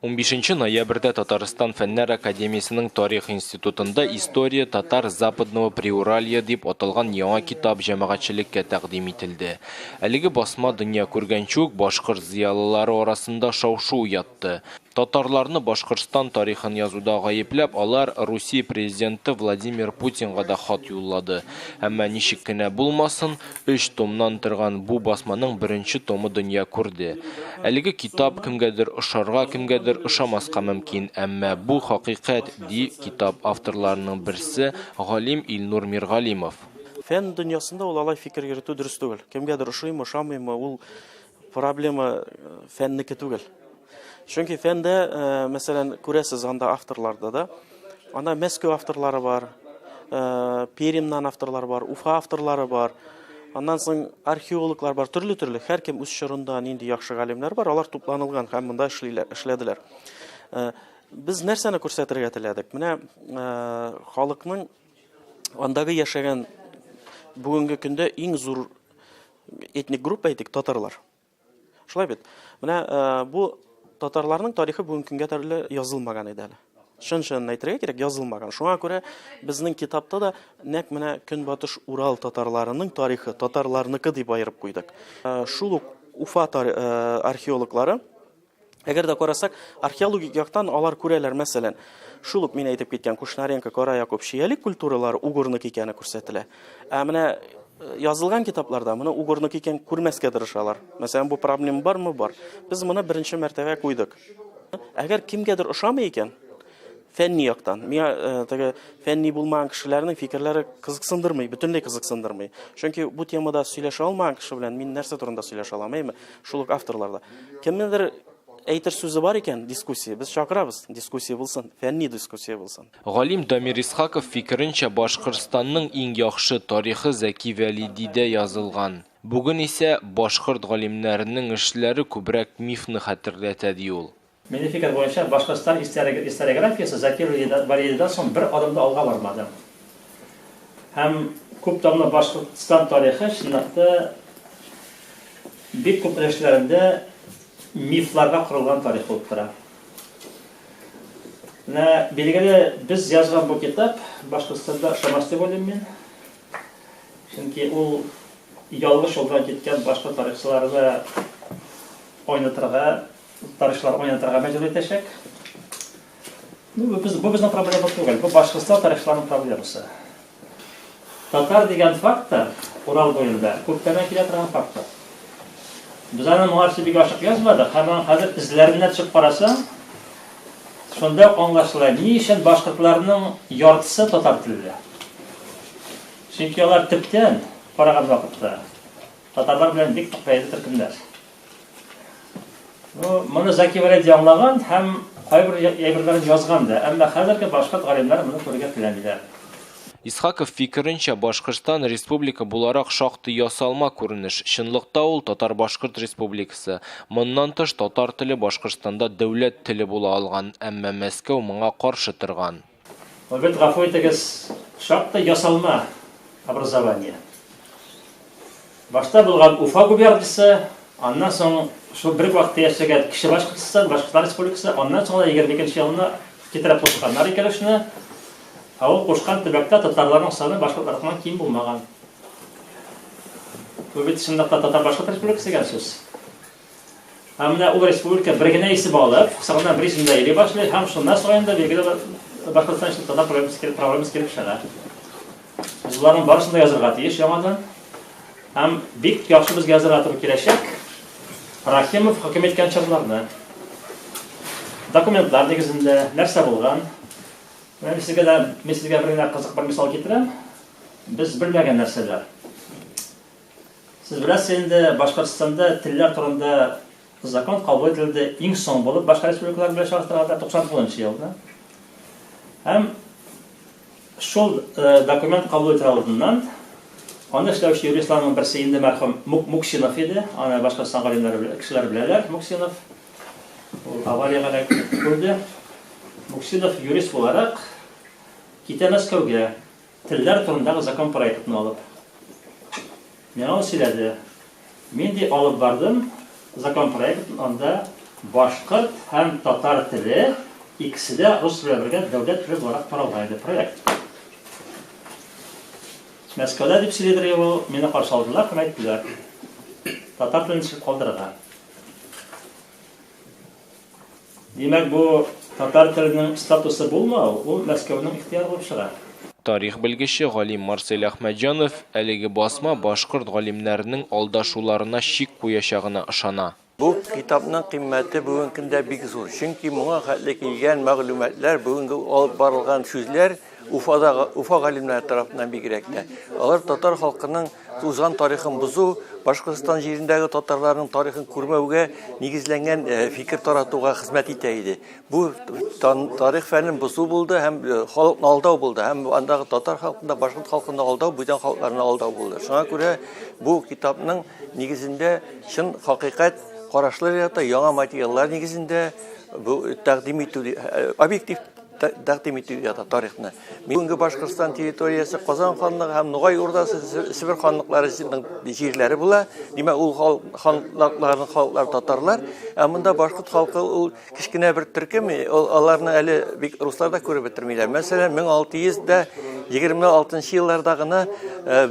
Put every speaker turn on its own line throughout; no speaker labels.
15 ноябрьдә Татарстан Фәннәр академиясенең Тарих институтында История татар Западного Приуралья дип аталган яңа китап җәмәгатьчелеккә тәкъдим ителде. Әлеге басма дөнья күргәнче үк башкорт зыялылары арасында шау-шу уятты. Татарларны Башкортстан тарихын язуда гаепләп, алар Русия президенты Владимир Путинга да хат юллады. Әмма ничек кенә булмасын, Өч томнан торган бу басманың беренче томы дөнья күрде. Әлеге китап кемгәдер ошарга, кемгәдер ошамаска мөмкин, әмма бу хакыйкать, ди китап авторларының берсе, галим Илнур Миргалимов. Фән дөньясында
ул алай фикер йөртү дөрес түгел. Кемгәдер ошыймы, ошамыймы, ул Проблема фәннеке түгел. Чөнки фәндә, мәсәлән, күрәсез анда авторларда да. Анда Мәскәү авторлары бар, Перимнан авторлар бар, Уфа авторлары бар. Аннан соң археологлар бар, төрле-төрле. Һәркем үз чорында нинди яхшы галимнәр бар, алар тупланылган һәм монда эшлиләр, эшләделәр. Без нәрсәне күрсәтергә теләдек? Менә халыкның андагы яшәгән бүгенге көндә иң зур Этник группа әйтик, татарлар. Шулай бит. Менә э, бу татарларның тарихы бүгенге көнгә төрле язылмаган иде әле. Шын шын әйтергә кирәк, язылмаган. Шуңа күрә безнең китапта да нәк менә Көнбатыш Урал татарларының тарихы, татарларныкы дип аерып куйдык. Э, шул ук Уфа э, археологлары Әгәр дә карасак, археологик яктан алар күрәләр, мәсәлән, шул ук мин әйтеп киткән Кушнаренко, Кара Якуб, Шиялек культуралары угорнок икәне күрсәтелә. Ә менә э, язылган китапларда моны угорнок икән күрмәскә тырышалар. Мәсәлән, бу проблема бармы? Бар. Без моны беренче мәртәбә куйдык. Әгәр кемгәдер ошамый икән, фәнни яктан. Миңа э, теге фәнни булмаган кешеләрнең фикерләре кызыксындырмый, бөтенләй кызыксындырмый. Чөнки бу темада сөйләшә алмаган кеше белән мин нәрсә турында сөйләшә алам, әйме? Шул ук авторларда. Кемнедер әйтер сүзе бар икән, дискуссия, без чакырабыз, дискуссия булсын, фәнни дискуссия булсын. Галим Дамир
Исхаков фикеренчә, Башкортстанның иң яхшы тарихы Зәки Вәлидидә язылган. Бүген исә башкорт галимнәренең эшләре күбрәк мифны хәтерләтә, ди ул. Милли фикер буенча,
Башкортстан историографиясе Закир Вәлиевдан соң бер адым да алга бармады. Һәм күп томлы Башкортстан тарихы, чынлап та, бик күп өлешләрендә мифларга корылган тарих булып тора. Менә билгеле, без язган бу китап Башкортстанда ошамас дип уйлыйм мин. Чөнки ул ялгыш юлдан киткән башка тарихчыларны айнытырга Тарихчылар уйнатырга мәҗбүр итәчәк. Ну, бу без бу безнең проблема түгел. Бу башкортстан тарихчыларының проблемасы. Татар дигән фактор Урал буенда күптән килә торган фактор. Без аны моңарчы бик ачык язмадык, һәм аны хәзер эзләренә төшеп карасаң, шунда аңлашыла, ни өчен башкортларның яртысы татар телле. Чөнки алар төптән караган вакытта татарлар белән бик нык бәйле төркемнәр. Ну, моны Заки Валеди аңлаган һәм кайбер әйберләрен язган да, әмма хәзерге башкорт галимнәре моны күрергә теләмиләр. Исхаков
фикеренчә, Башкортстан республика буларак шактый ясалма күренеш. Чынлыкта ул татар-башкорт республикасы. Моннан тыш, татар теле Башкортстанда дәүләт теле була алган, әмма Мәскәү моңа каршы торган. Обед, гафу
итегез, шактый ясалма образование. Башта булган Уфа губерниясе, аннан соң шул бер вакытта яшәгән Кече Башкортстан, Башкортстан Республикасы, аннан соң да 22 елына китереп кушканнар икәлешне. Ә ул кушкан төбәктә татарларның саны башкортлардан ким булмаган. Бу бит чынлыкта татар-башкорт республикасы дигән сүз. Ә менә ул республика бер генә исем алып, кысагына бер исемдә йөри башлый, һәм шуннан соң инде билгеле бер Башкортстан өчен татар проблемасы килеп, проблемасы килеп чыга. Без боларның барысын да язырга тиеш яңадан. Һәм бик яхшы безгә язырга туры киләчәк. Рахимов хөкем иткән чорларны. Документлар нигезендә нәрсә булган? Мен сезгә дә, мен сезгә бер генә кызык бер мисал китерәм. Без белмәгән нәрсәләр. Сез беләсез инде, Башкортстанда телләр турында закон кабул ителде иң соң булып башка республикалар белән чагыштырганда 99 елда. Һәм шул э, документ кабул ителә алдыннан аны эшләүче юристларның берсе инде мәрхүм Муксинов иде, аны Башкортстан галимнәре кешеләр беләләр, Муксинов. Ул авариягә да күрде. Муксинов юрист буларак китә Мәскәүгә. Телләр турындагы закон проектны алып. Миңа ул сөйләде. Мин ди алып бардым закон проектын, анда башкорт һәм татар теле икесе дә рус белән бергә дәүләт теле буларак каралган иде проект. Мәскәүдә дип сөйләдер ул, мине каршы алдылар һәм әйттеләр. Татар телен ничек калдырырга? Димәк, бу татар теленең статусы булмау, ул Мәскәүнең ихтыяры булып чыга. Тарих белгече
галим Марсель Әхмәтҗанов әлеге басма башкорт галимнәренең алдашуларына чик куячагына ышана. Бу китапның
кыйммәте бүгенге көндә бик зур, чөнки моңа хәтле килгән мәгълүматлар, бүгенге алып барылган сүзләр Уфадагы, Уфа галимнәре тарафыннан бигрәк тә. Алар татар халкының узган тарихын бозу, Башкортстан җирендәге татарларның тарихын күрмәүгә нигезләнгән э, фикер таратуга хезмәт итә иде. Бу тарих фәнен бозу булды һәм э, халыкны алдау булды. Һәм андагы татар халкында башкорт халкында алдау, бүтән халыкларны алдау булды. Шуңа күрә бу китапның нигезендә чын хакыйкать карашлар ята, яңа материаллар нигезендә бу тәкъдим итү э, объектив тәкъдим итү ята тарихны. Бүгенге Башкортстан территориясе Казан ханлыгы һәм Нугай урдасы Себер ханлыклары җирләре була. Димәк, ул ханлыкларның халыклар татарлар, ә монда башкорт халкы ул кечкенә бер төркем, аларны әле бик руслар да күреп бетермиләр. Мәсәлән, 1626 елларда гына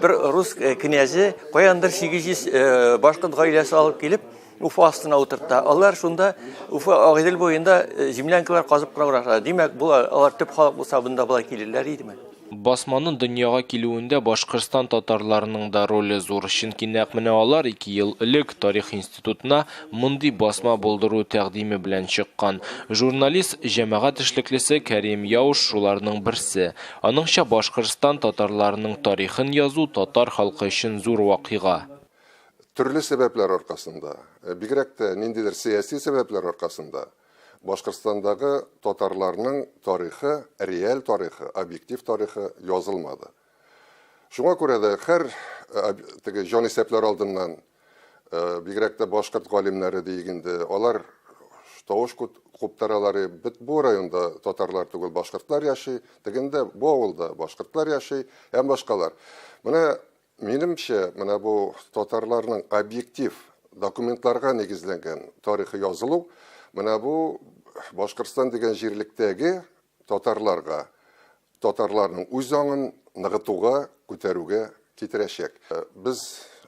бер рус князе каяндыр 800 башкорт гаиләсе алып килеп, Уфа астына утырта. Алар шунда Уфа Агыйдел буенда э, землянкалар казып кына баралар. Димәк, бу алар төп халык булса, бында болай килерләр идеме? Басманың
дөньяга килүендә Башкортстан татарларының да роле зур, чөнки нәкъ менә алар ике ел элек тарих институтына мондый басма булдыру тәкъдиме белән чыккан. Журналист, җәмәгать эшлеклесе Кәрим Яуш шуларның берсе. Аныңча Башкортстан татарларының тарихын язу татар халкы өчен зур вакыйга. Төрле
сәбәпләр аркасында, бигрәк тә ниндидер сәяси сәбәпләр аркасында Башкортстандагы татарларның тарихы, реаль тарихы, объектив тарихы язылмады. Шуңа күрә дә хәр теге җанисәпләр алдыннан, бигрәк тә башкорт галимнәре диик инде, алар тавыш куптаралары, бит бу районда татарлар түгел, башкортлар яши, тегендә, бу авылда башкортлар яши һәм башкалар. Менә Минемчә, менә бу татарларның объектив документларга нигезләнгән тарихы язылу, менә бу Башкортстан дигән җирлектәге татарларга, татарларның үз аңын ныгытуга, күтәрүгә китерәчәк. Без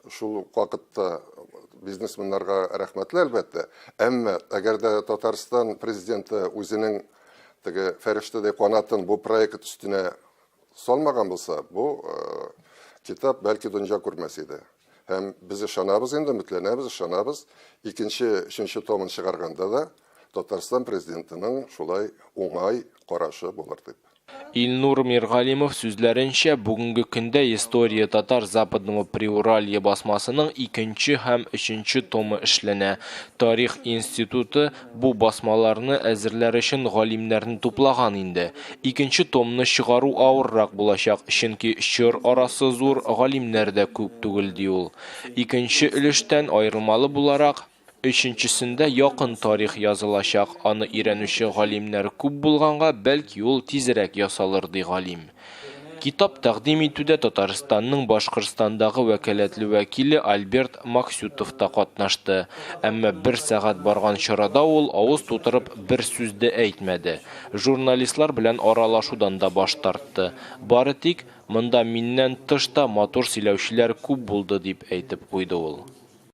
шул ук вакытта бизнесменнарга рәхмәтле, әлбәттә. Әмма, әгәр дә Татарстан Президенты үзенең теге фәрештәдәй канатын бу проект өстенә салмаган булса, бу китап бәлки дөнья күрмәс иде. Һәм без ышанабыз инде, өметләнәбез, ышанабыз. Икенче, өченче томын чыгарганда да Татарстан президентының шулай уңай карашы булыр дип. Илнур
Миргалимов сүзләренчә, бүгенге көндә История татар Западного Приуралья басмасының икенче һәм өченче томы эшләнә. Тарих институты Бу басмаларны әзерләр өчен галимнәрне туплаган инде. Икенче томны чыгару авыррак булачак, чөнки чор арасы зур, галимнәр дә күп түгел, ди ул. Икенче өлештән аерылмалы буларак, өченчесендә якын тарих язылачак, аны өйрәнүче галимнәр күп булганга, бәлки ул тизрәк ясалыр, ди галим. Китап тәкъдим итүдә Татарстанның Башкортстандагы вәкаләтле вәкиле Альберт Максютов та катнашты. Әмма бер сәгать барган чарада ул авыз тутырып бер сүз дә әйтмәде. Журналистлар белән аралашудан да баш тартты. Бары тик, Монда миннән тыш та матур сөйләүчеләр күп булды, дип әйтеп куйды ул.